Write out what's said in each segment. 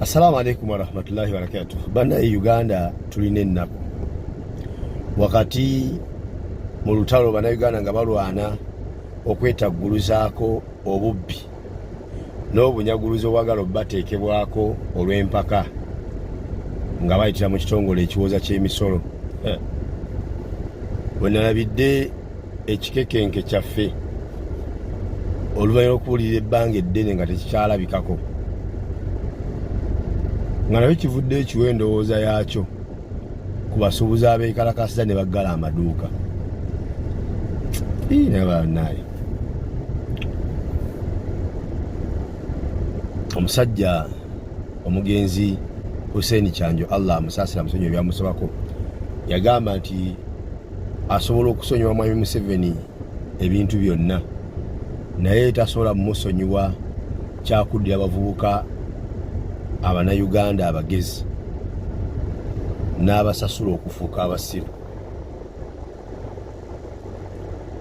Assalamu alaikum warahmatullahi wabarakatuh. Bana e Uganda tulina ennaku wakati mu lutalo bana Uganda nga balwana okwetagguluzaako obubbi n'obunyaguluzi obwagala obubateekebwako olw'empaka nga bayitira mu kitongole ekiwooza ky'emisolo eh. wenalabidde ekikekenke kyaffe oluvannyuma lwokuwulira ebbanga eddene nga tekikyalabikako nga nayo kivudde ekiwa endowooza yaakyo ku basuubuzi abeekalakasiza ne baggala amaduuka nabanaaye omusajja omugenzi hussein kyanjo allah amusaasira musonyi ebyamusabako yagamba nti asobola okusonyiwa mwami museveni ebintu byonna naye tasobola mumusonyiwa kyakuddira abavubuka abanayuganda abagezi n'abasasula okufuuka abasiru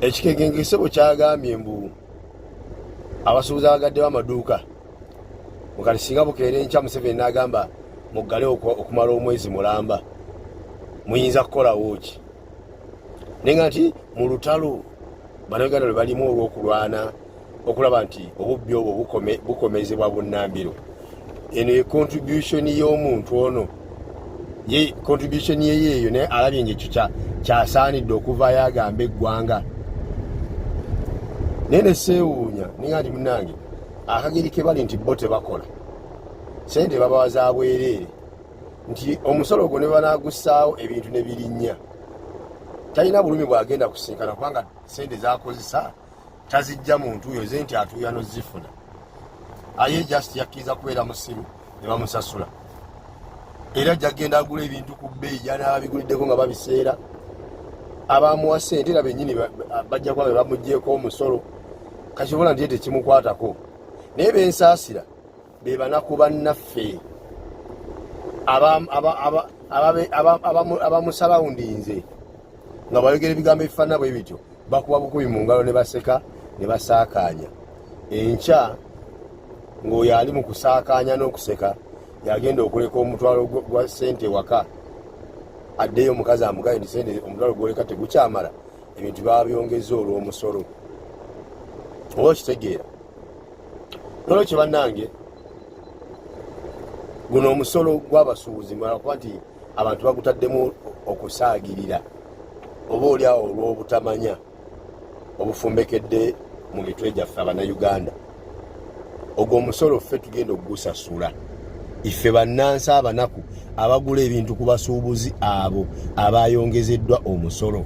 ekikegengesebo kyagambye mbu abasuubuzi abagaddewo amaduuka mukati singa bukeera enkya museveni n'agamba muggale okumala omwezi mulamba muyinza kukolawo ki naye nga nti mu lutalo banauganda lwe balimu olw'okulwana okulaba nti obubbi obwo bukomezebwa bunnambiro eno ye contribution y'omuntu ono ye contribution yeye eyo naye alabye ngaekyo kyasaanidde okuvayo agamba eggwanga naye neseewuunya ninga nti munange akageri kebali nti bo tebakola sente babawa za bwereere nti omusolo ogwo ne banagussaawo ebintu ne birinnya talina bulumi bwagenda kusinkana kubanga sente zakozesa tazijja muntu oyo ze nti atuuyano zifuna aye just yakkiriza kubeera musiru ne bamusasula era jagenda agula ebintu ku bbeeyi janaba biguliddeko nga babiseera abamuwa sente era benyini bajja kuba be bamugyeko omusolo kakibona nti tekimukwatako naye bensaasira be banaku bannaffe abamusalawundinze nga bayogera ebigambo ebifaanana bwe bityo bakuba bukubi mu ngalo ne baseka ne basaakaanya enkya ng'oyo ali mu kusaakaanya n'okuseka yagenda okuleka omutwalo gwa sente ewaka addeyo omukazi amugaye nti sente omutwalo gwoleka tegukyamala ebintu babyongeza olw'omusolo oba okitegeera nolwekyo bannange guno omusolo gw'abasuubuzi mulakuba nti abantu bagutaddemu okusaagirira oba oli awo olw'obutamanya obufumbekedde mu mitwe gyaffe abanayuganda ogwo omusolo ffe tugenda okugusasula ife bannansi abanaku abagula ebintu ku basuubuzi abo abayongezeddwa omusolo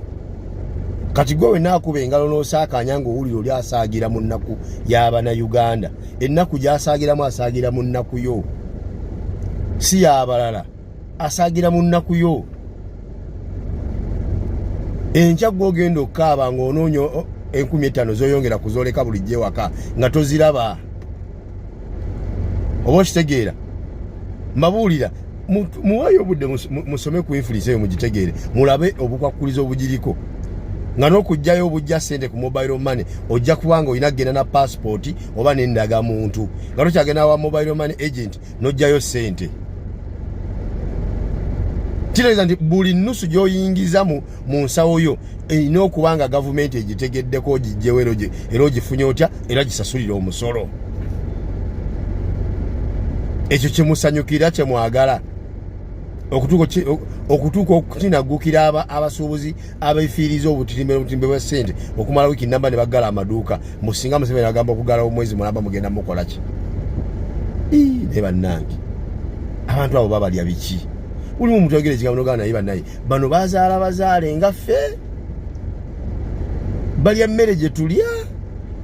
kati gwe wenaakuba engalo n'osaakaanya ng'owulira oli asaagira mu nnaku y'abanayuganda ennaku gy'asaagiramu asaagira mu nnaku yo si y'abalala asaagira mu nnaku yo enkya gwe ogenda okukaaba nga onoonya enkumi ettaano zoyongera kuzoleka bulijjo ewaka nga toziraba oba okitegeera mbabuulira muwayo obudde musome ku infulisa eyo mugitegeere mulabe obukwakkuliza obugiriko nga n'okugjayo obujja sente ku mobile money ojja kubanga olina kugenda na paasipooti oba nendagamuntu nga tokyagenda wa mobile money agent nojjayo sente kitegeeza nti buli nusu gyoyingiza mu nsawo yo erina okuba nga gavumenti egitegeddeko ogijjewo era ogifunye otya era gisasulire omusolo ekyo kyemusanyukira kyemwagala okutuuka okukinaggukira abasuubuzi abefiiriza obutirimbe n'obutirimbe bwa ssente okumala wiiki namba ne baggala amaduuka mbu singa museveni agamba okugalawo omwezi mulamba mugenda mukola ki naye bannange abantu abo babalya biki ulimu omuntu ayogera ekigambo nogamba naye banaye bano bazaala bazaale nga ffe balya mmere gye tulya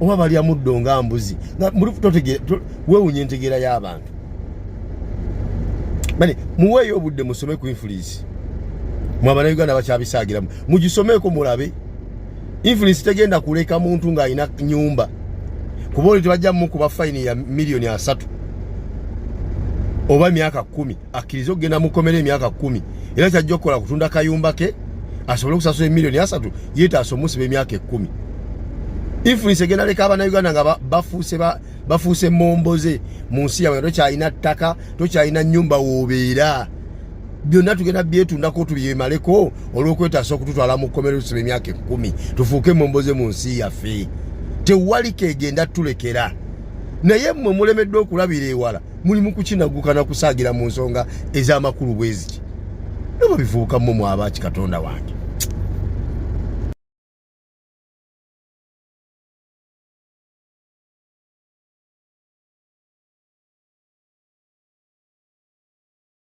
oba balya muddo nga mbuzi wewunya entegeera y'abantu muweeyo obudde musome ku influence influence mwabana Uganda bakyabisagiramu mugisomeko mulabe influence tegenda kuleka muntu nga alina nyumba kuba oli tebajja mukuba fine ya milioni asatu oba emyaka kumi akkirize okugenda mukomera emyaka kumi era kyajja okukola kutunda kayumba ke asobole okusasula emilioni asatu yetaasa omusiba emyaka ekumi influence egenda leka abana uganda nga bafuuse bafuuse momboze mu nsi yabwe tokyalina ttaka tokyalina nyumba wobeera byonna tugenda byetundako tubyemaleko olwokwetaasa okututwala mu kkomero tusoma emyaka ekkumi tufuuke emomboze mu nsi yaffe tewali kegenda tulekera naye mmwe mulemeddwa okulabira ewala mulimu kukinaguka na kusaagira mu nsonga ez'amakulu bweziki noba bivubuka mmwe mwabaaki katonda wange